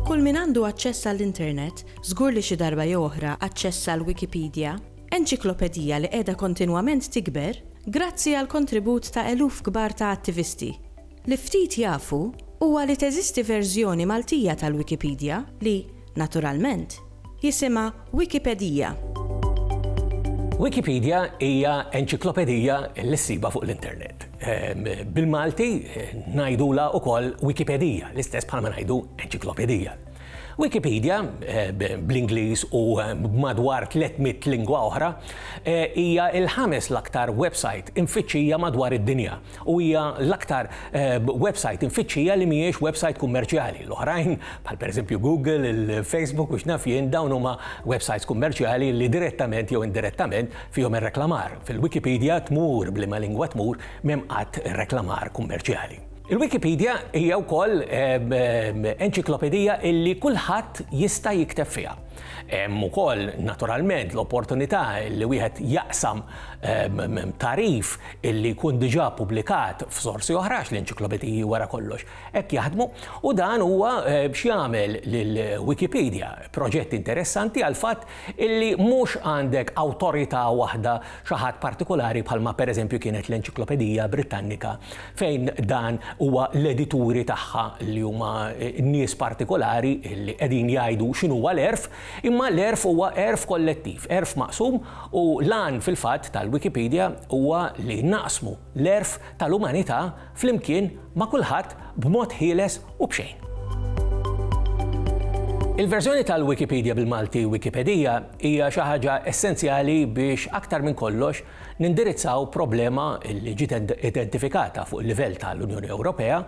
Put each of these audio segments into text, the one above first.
Kull min għandu aċċess għall-internet, żgur li xi darba jew oħra aċċessa l-Wikipedija, enċiklopedija li qiegħda kontinwament tikber grazzi għall-kontribut ta' eluf kbar ta' attivisti. Li ftit jafu huwa li teżisti verżjoni Maltija tal-Wikipedija li, naturalment, jisimha Wikipedija. Wikipedija hija enċiklopedija li ssibha fuq l-internet. Bil-Malti ngħidulha wkoll Wikipedija, l-istess bħalma ngħidu enċiklopedija. Wikipedija, bl-Ingliż u b'madwar 300 lingwa oħra, hija l-ħames l-aktar websajt imfittxija madwar id-dinja u hija l-aktar websajt imfittxija li mhijiex websajt kummerċjali. L-oħrajn, bħal pereżempju Google, il-Facebook u x'naf jien, dawn huma websajts kummerċjali li direttament jew indirettament fihom ir-reklamar. Fil-Wikipedija, tmur b'liema lingwa tmur, m'hemm qatt reklamar kummerċjali. Il-Wikipedija hija wkoll enċiklopedija li kulħadd jista' jikteb fiha. Hemm ukoll, naturalment, l-opportunità li wieħed jaqsam tagħrif li jkun diġà ppubblikat f'sorsi oħra għax l-enċiklopediji wara kollox hekk jaħdmu, u dan huwa biex jagħmel lil Wikipedia proġett interessanti għall-fatt illi mhux għandek awtorità waħda, xi ħadd partikulari bħalma pereżempju kienet l-Enċiklopedija Brittannika fejn dan huwa l-edituri tagħha li huma nies partikulari li qegħdin jgħidu x'inhuwa l-għerf, Imma l-għerf huwa għerf kollettiv, għerf maqsum u l-għan fil-fatt tal-Wikipedija huwa li naqsmu l-għerf tal-umanità flimkien ma' kulħadd b'mod ħieles u b'xejn. Il-verżjoni tal-Wikipedija bil-Malti Wikipedija hija xi ħaġa essenzjali biex aktar minn kollox nindirizzaw problema li ġiet identifikata fuq il-livell tal-Unjoni Ewropea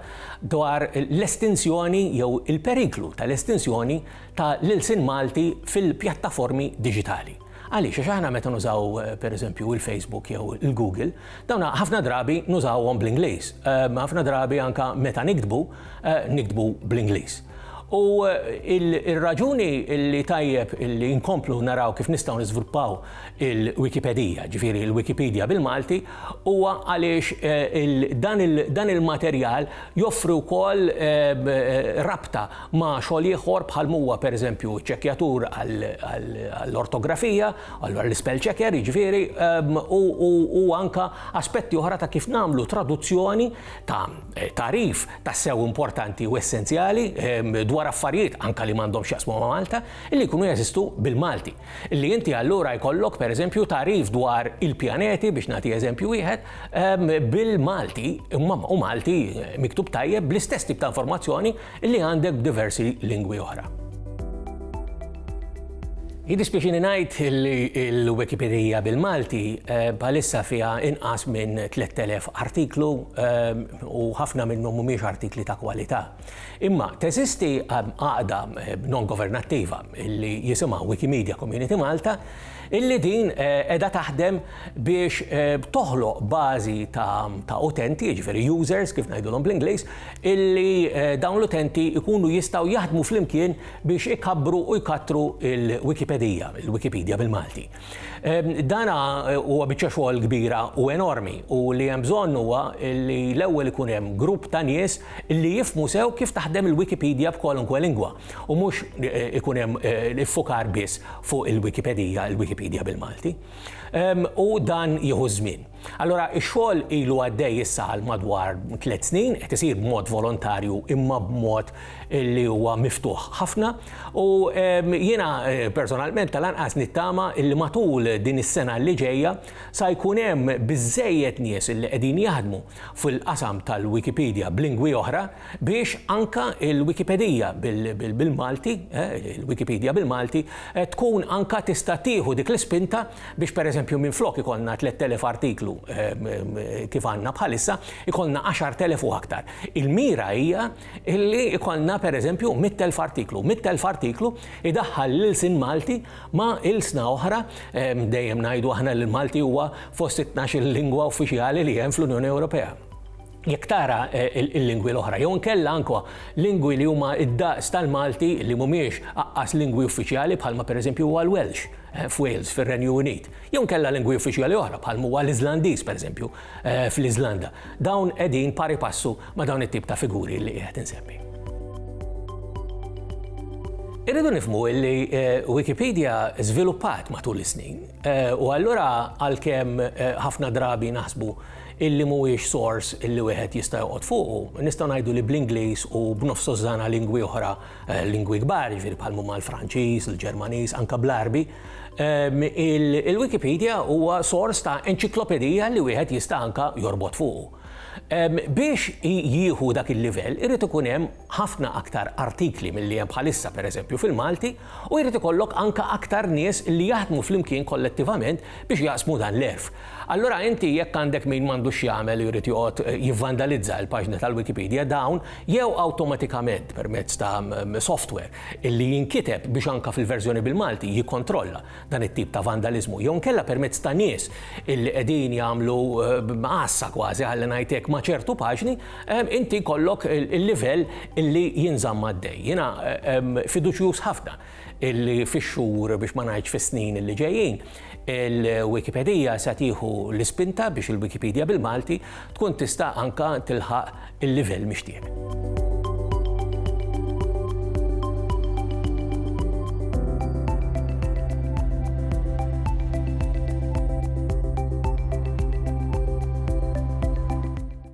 dwar l-estinzjoni jew il-periklu tal-estinzjoni ta' l-ilsien Malti fil-pjattaformi diġitali. Għaliex? Għax aħna meta nużaw pereżempju il-Facebook jew il-Google, dawn ħafna drabi nużawhom bl-Ingliż. Ehm, ħafna drabi anke meta niktbu, eh, niktbu bl-Ingliż. U il-raġuni li tajjeb li nkomplu naraw kif nistgħu niżviluppaw il-Wikipedija, ġifieri il-Wikipedia bil-Malti, Huwa għaliex dan il-materjal joffri wkoll rabta ma' xogħol ieħor bħal m'huwa pereżempju ċċekkjatur għall-ortografija, allura l-ispell checker jiġifieri, u anke aspetti oħra ta' kif nagħmlu traduzzjoni ta' tagħrif tassew importanti u essenzjali dwar affarijiet anke li m'għandhomx x'jaqsmu ma' Malta li jkunu jeżistu bil-Malti. Li inti allura jkollok, pereżempju, tagħrif dwar il-pjaneti, biex nagħti eżempju wieħed, bil-Malti, imma u Malti miktub tajjeb bl-istess tip ta' informazzjoni li għandek b'diversi lingwi oħra. Jiddispjaċini ngħid li l-Wikipedija bil-Malti eh, bħalissa fiha inqas minn 3000 artiklu eh, u ħafna minnhom mhumiex artikli ta' kwalità. Imma teżisti għaqda non-governattiva li jisimha Wikimedia Community Malta illi din qiegħda taħdem biex toħloq bażi ta' utenti, jiġifieri users kif ngħidulhom bl-Ingliż, illi dawn l-utenti jkunu jistgħu jaħdmu flimkien biex ikabbru u jkattru l-Wikipedija, il-Wikipedia bil-Malti. Ehm, dana eh, huwa biċċa xogħol kbira u enormi u li hemm bżonn huwa li l-ewwel ikun hemm grupp ta' nies li jifmu sew kif taħdem il-Wikipedia b'kolunkwe lingwa u mhux eh, ikun hemm eh, iffukar biss fuq il-Wikipedia, il-Wikipedia bil-Malti. Ehm, u dan jieħu żmien. Allura ix-xogħol ilu għaddej issa għal madwar tliet snin, qed isir b'mod volontarju imma b'mod li huwa miftuħ ħafna u ehm, jiena eh, personalment tal-anqas nittama li matul din is-sena li ġejja sa jkun hemm biżejjed nies li qegħdin jaħdmu fil-qasam tal-Wikipedia b'lingwi oħra biex anka il-Wikipedija bil-Malti, eh, il-Wikipedia bil-Malti, eh, tkun anka tista' tieħu dik l-ispinta Biex pereżempju minflok ikollna 3,000 artiklu kif għandna bħalissa, ikollna 10,000 u aktar. Il-mira hija li jkollna pereżempju 100,000 artiklu. 100,000 artiklu jdaħħal l-ilsien Malti ma' ilsna oħra, dejjem ngħidu aħna li l-Malti huwa fost it-tnax-il lingwa uffiċjali li hemm fl-Unjoni Ewropea. Jekk tara l-lingwi l-oħra jew inkella anke lingwi li huma d-daqs tal-Malti li mhumiex aqqas lingwi uffiċjali bħalma pereżempju huwa l-Welsh f'Wales fir-Renju Unit jew inkella lingwi uffiċjali oħra bħalm'huwa l-Iżlandiż pereżempju fl-Iżlanda, dawn qegħdin pari passu ma' dawn it-tip ta' figuri li qiegħed insemmi. Irridu nifhmu li Wikipedia żviluppat matul is-snin u allura għalkemm ħafna drabi naħsbu illi mhuwiex sors illi wieħed jista' joqgħod fuqu, nistgħu ngħidu li bl-Ingliż u b'nofs dożżana lingwi oħra, lingwi kbar, jiġifieri bħal mhuma l-Franċiż, il-Ġermaniż, anke bl-Għarbi, il-Wikipedia huwa sors ta' enċiklopedija li wieħed jista' anke jorbot fuqu. Biex jieħu dak il-livell irid ikun hemm ħafna aktar artikli milli hemm bħalissa, pereżempju, fil-Malti, U jrid ikollok anke aktar nies li jaħdmu flimkien kollettivament biex jaqsmu dan l-għerf. Allura inti jekk għandek min m'għandux x'jagħmel u jrid joqgħod jivvandalizza l-paġna tal-Wikipedia, dawn jew awtomatikament permezz ta' software li jinkiteb biex anke fil-verżjoni bil-Malti jikkontrolla dan it-tip ta' vandaliżmu jew inkella permezz ta' nies li qegħdin jagħmlu għassa kważi, ħalli ngħid hekk, ma' ċertu paġni, inti jkollok il-livell li jinżamm għaddej. Jiena fiduċjuż ħafna illi fix-xhur biex ma ngħidx fis-snin li ġejjin, il-Wikipedija se tieħu l-ispinta biex il-Wikipedia bil-Malti tkun tista' anke tilħaq il-livell mixtieq.